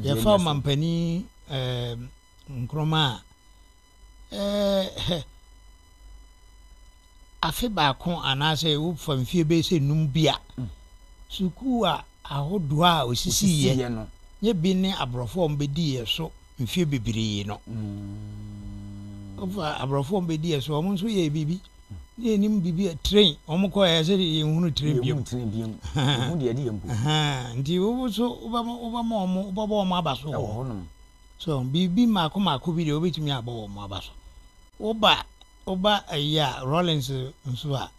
Yɛfa ɔmampanin ɛɛ Nkrumah a ɛɛ afe baako anaasɛ wofa mfie bɛyɛ sɛ num bi a mm. sukuu a ahodoɔ a ɔsisiiɛ no nyɛ bi ne aborɔfo a wɔbɛdiiɛ so mfie bebree no mm. wofa aborɔfo a wɔbɛdiiɛ so wɔn nso yɛ biribi na yɛnim biribi a tren wɔn kɔ ɛyɛ sɛ deɛ yɛn hunu tren biam yɛn tren biam ɛho deɛ ɛde yɛn mpo nti wobo so wobɛma wobɛma wɔn wobɛbɔ wɔn aba so wɔ hɔnom so biribi mako mako bi deɛ wobɛtumi abɔ wɔn aba so woba woba ɛyi a rollins nso a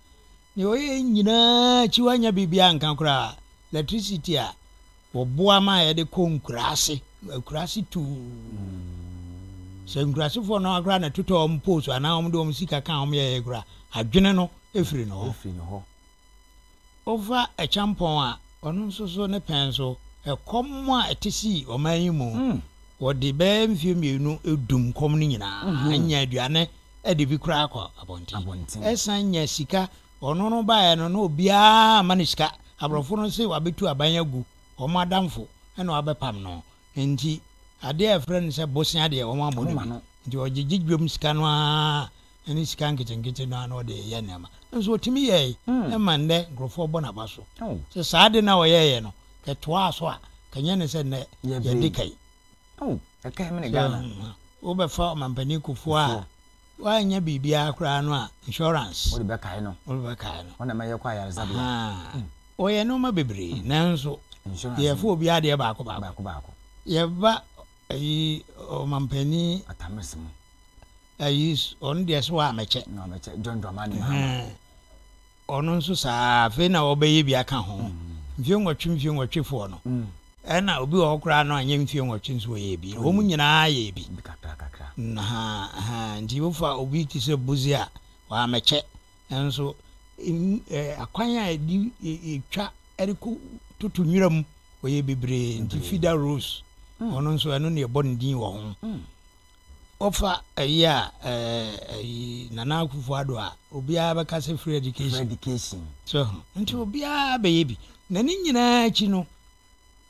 deɛ ɔyɛ nyinaa akyi wanya biribi anka koraa electricity a Wɔboa ma yɛde kɔ nkuraase, nkuraase tumm. Sɛ nkurasefoɔ no ara koraa na ɛtotɔ wɔn pole so anaa wɔde wɔn sika ka a wɔyɛeɛ koraa a, adwene no firi ne hɔ. Wofa Ɛkyɛmpɔn a, ɔno nso so ne pɛn so, ɛkɔm a ɛte sii ɔman yi mu. Wɔde bɛyɛ mfeɛ mmienu dum kɔm no nyinaa, annya aduane de bi koraa akɔ abɔnten. Ɛsan nya sika Ɔno no baeɛ no na obiara amma no sika. Aborɔfo no se wɔabɛtu aban agu wɔn adamfo na wɔabɛpam no. Enti adeɛ a yɛfrɛ no sɛ bosea deɛ wɔn ammɔ no bi. Nti ɔgyegye dwam sika no ara ne sika nketenkete no ara na ɔde yɛ nneɛma. Nanso ɔtumi yɛe ma nnɛ nkurɔfoɔ bɔ n'aba so. Sɛ saa ade no a ɔyɛeɛ no kɛtoaa so a, nka nyɛ ne sɛ nnɛ yɛde ka yi. Sɛ wobɛfa Ɔmampanin Kufuor a, Woannya biribiara koraa no a, insurance. Wode bɛkae no. Wode bɛkae no. Wɔn na ɛma yɛkɔ ayaresabea. Ahaa. Wɔyɛ nneɛma bebree, nanso. Insurance. Yɛfa obi adeɛ baako baako. Baako baako. Yɛba ayi ɔmampanin. Atamers mu. Ayi ɔno deɛ so a mɛkyɛ. Na ɔmɛkyɛ John Dramani Mahama. Ɛhɛn. Ɔno nso saa ara, afei na ɔbɛyɛ bi aka ho. Mfeɛ nwɔtwe mfeɛ nwɔtwe foɔ no, ɛna obi wɔ hɔ koraa no anyɛ mfeɛ nwɔtwe nso ɔyɛɛ bi. Wɔn nyinaa yɛɛ bi. Nhaa, nti wofa obi te sɛ Buzi a, wammɛkyɛ. Nanso akwan a ɛde ɛtwa ɛde kɔ toto nwira mu, ɔyɛɛ bebree. Nti Fida Rose, ɔno nso ɛno na yɛbɔ ne din wɔ ho. Wofa ɛyi a ɛɛ ɛyi Nana Akufo Addo a obiara bɛka sɛ free education. Free education. So ho. Nti obiara bɛyɛ bi. Na ne nyinaa akyi no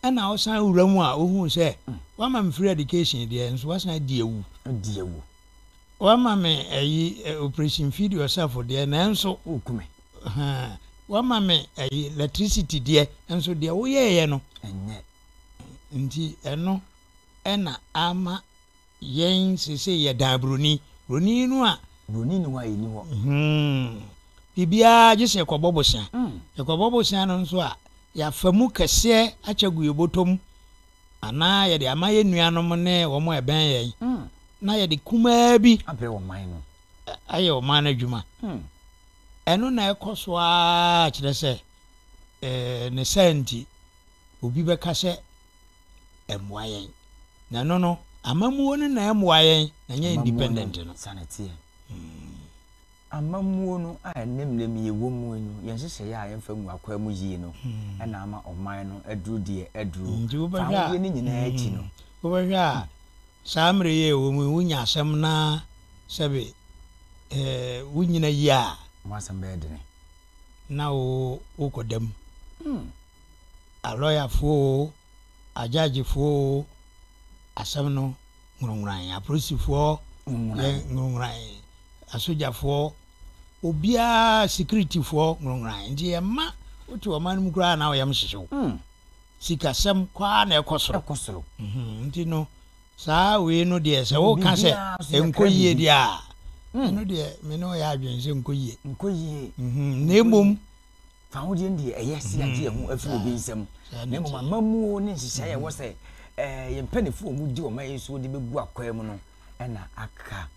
ɛna ɔsan wura mu a ohun sɛ mm. wama me free education deɛ nso wasan adi awu. Adi awu. Wama me ɛyi eh, operation feed yourself deɛ nanso. Okume. Wama me ɛyi electricity deɛ nso deɛ woyɛɛyɛ no. Ɛnyɛ. Nti ɛno ɛna ama Yɛn seesei yɛ daa buroni. Buroni no a. Buroni nni hɔ a yɛn nni hɔ. Biribiara gye sɛ yɛkɔbɔ bosea. Yɛkɔbɔ bosea no nso a, yɛafa mu kɛseɛ akyɛ agu yɛn bɔtɔ mu anaa yɛde ama yɛn nuanom ne wɔn a ɛbɛn yɛn na yɛde kumaa bi. Abrɛ ɔman no. Ayɛ ɔman no adwuma. Ɛno na ɛkɔ so ara kyerɛ sɛ, ne saa nti, obi bɛka sɛ. ɛmmoa yɛn na ɛno no amammuo no na ɛmmoa yɛn na nyɛ independent no sane teɛ hmm. amammuo no a ɛnɛ mmerɛ mu yɛwɔ mu no yɛn nhyehyɛeɛ a yɛmfa mu akwaa mu yie no hmm. ɛna ama ɔman no aduru deɛ aduru hmm, saa wodeɛ no nyinaa akyi no wobɛhwɛ a saa mmerɛ yɛ ɛwɔ mu wonya asɛm na sɛbe eh, wonyina yie a wasɛm bɛyɛ dene na wokɔ dam alɔyafoɔ oo, agyaagefoɔ oo, asɛm no nwuranwuran. Apolisifoɔ yɛ nwuranwuran, asogyafoɔ, obiara, sikiritifoɔ nwuranwuran. Nti ɛma wote ɔman no mu koraa na wo yam hyehye wo. Hmm. Sikasɛm kɔ ara na ɛkɔ soro. Ɛkɔ soro. Mhm, Nti no, saa wei no deɛ sɛ woka sɛ Biribiara nso yɛkra nkɔ yie biribi. deɛ a, ɛno deɛ me ne wo yɛ adwene sɛ nkɔ yie. Nkɔ yie. Mhm, Na mmom fahodie no deɛ ɛyɛ sɛ yɛagye yɛn ho afiri obi nsam na mmom amammuo ne nhyehyɛeɛ ɛwɔ sɛ eh, yɛn mpanimfoɔ a wɔdi wɔn ayɛ so de bɛgu akwaa mu no ɛna aka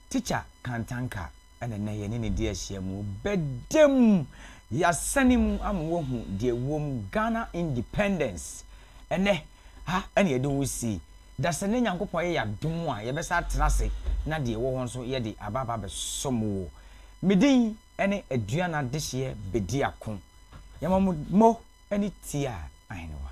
tikya kantanka ɛna nnɛ yɛne ne di ahyia mu bɛda mu yɛasane mu ama woahu deɛ wɔm ghana independence ɛnɛ ha ɛna yɛde wo si da sɛ ne nyankopɔn yɛ yɛadom a yɛbɛsa atena ase na deɛ ɛwɔ hɔ nso yɛde aba aba bɛsom wo medin ne aduan adehyeɛ bɛdi ako. Yɛma mo mo ani tia ahenewa.